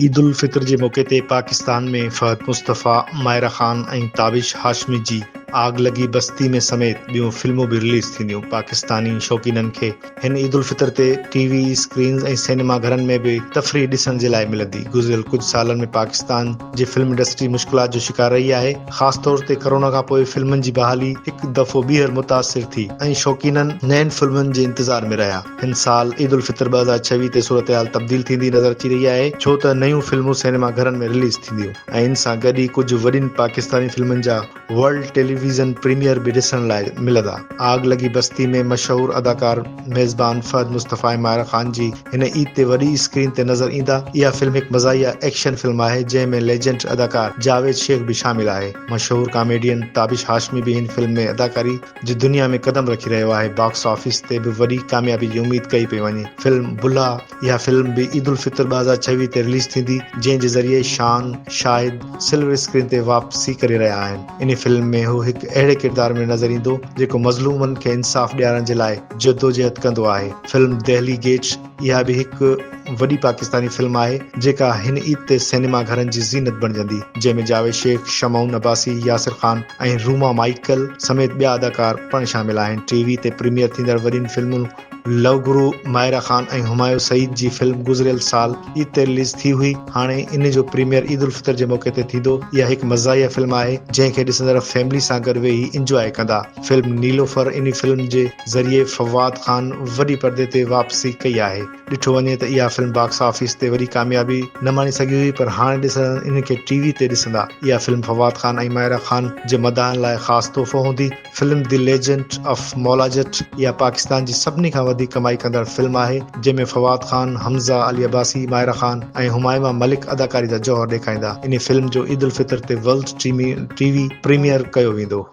عيدالفطر جي موقعي تي پاڪستان ۾ فهد مصطفيٰ، مائره خان ۽ تابش هاشمي جي آگ لڳي بستي ۾ سميت ٻيون فلمون به رليز ٿينديون، پاڪستاني شوقينن کي هن عيد الفطر تي ٽي وي اسڪرينز ۽ سئنيما گهرن ۾ به تفريح ڏسڻ جي لاء ملندي، گذريل ڪجهه سالن ۾ پاڪستان جي فلم انڊسٽري مشڪلات جو شڪار رهي آهي، خاص طور تي ڪرونا کانپوء فلمن جي بحالي هڪ دفعو ٻيهر متاثر ٿي ۽ شوقينن نين فلمن جي انتظار ۾ رهيا، هن سال عيد الفطر ٻه هزار ڇويهه تي صورتحال تبديل ٿيندي نظر اچي رهي آهي، ڇو ته نيون فلمون سئنيما گهرن ۾ رليز ٿينديون ۽ ان سان گڏ ئي ڪجهه وڏين پاڪستاني فلمن جا. ورلڊ ٽيليويزن پريميئر به ڏسڻ لاء ملندا. آگ لڳي بستي ۾ مشهور اداڪار ميزبان فهد مصطفي ۽ ماهرا خان جي هن عيد تي وڏي اسڪرين تي نظر ايندا. اها فلم هڪ مزاحيه ايڪشن فلم آهي جنهن ۾ ليجنڊ اداڪار جاويد شيخ به شامل آهي. مشهور ڪاميڊين تابش هاشمي به هن فلم ۾ اداڪاري جي دنيا ۾ قدم رکي رهيو آهي. باڪس آفيس تي به وڏي ڪاميابي جي اميد ڪئي پئي وڃي. فلم بلها. اها فلم به عيدالفطر ٻه هزار ڇويهه تي رليز ٿيندي جنهن جي ذريعي شان شاهد سلور اسڪرين تي واپسي ڪري رهيا آهن انهي فلم ۾ هو هڪ اهڙي ڪردار ۾ نظر ايندو جيڪو مظلومن کي انصاف ڏيارڻ جي لاء جدوجهد ڪندو آهي فلم دهلي گيٽس اها به هڪ وڏي پاڪستاني فلم آهي جيڪا هن عيد تي سئنيما گهرن جي زينت بڻجندي جنهن ۾ جاويد شيخ شمعون عباسي ياسر خان ۽ روما مائيڪل سميت ٻيا اداڪار پڻ شامل آهن ٽي وي تي پريميئر ٿيندڙ وڏين فلمن لئو گرو، ماهرا خان ۽ همايون سعيد جي فلم گذريل سال عيد تي رليز ٿي هئي، هاڻي ان جو پريميئر عيد الفطر جي موقعي تي ٿيندو، اها هڪ مزاحيه فلم آهي، جنهن کي ڏسندڙ فيملي سان گڏ ويهي انجواء ڪندا، فلم نيلوفر انهي فلم جي ذريعي فواد خان وڏي پردي تي واپسي ڪئي آهي، ڏٺو وڃي ته اها فلم باڪس آفيس تي وڏي ڪاميابي نه ماڻي سگهي هئي پر هاڻي ڏسندڙ انهي کي ٽي وي تي ڏسندا، اها فلم فواد خان ۽ ماهرا خان جي مداحن لاء خاص تحفو هوندي، film the legend of Maula Jatt اها پاڪستان جي سڀني کان وڌيڪ ڪمائي ڪندڙ فلم آهي جنهن ۾ فواد خان، حمزه، علي عباسي، مائره خان ۽ همائما ملڪ اداڪاري جا جوهر ڏيکائيندا. انهي فلم جو عيدالفطر تي ورلڊ ٽي وي پريميئر ڪيو ويندو.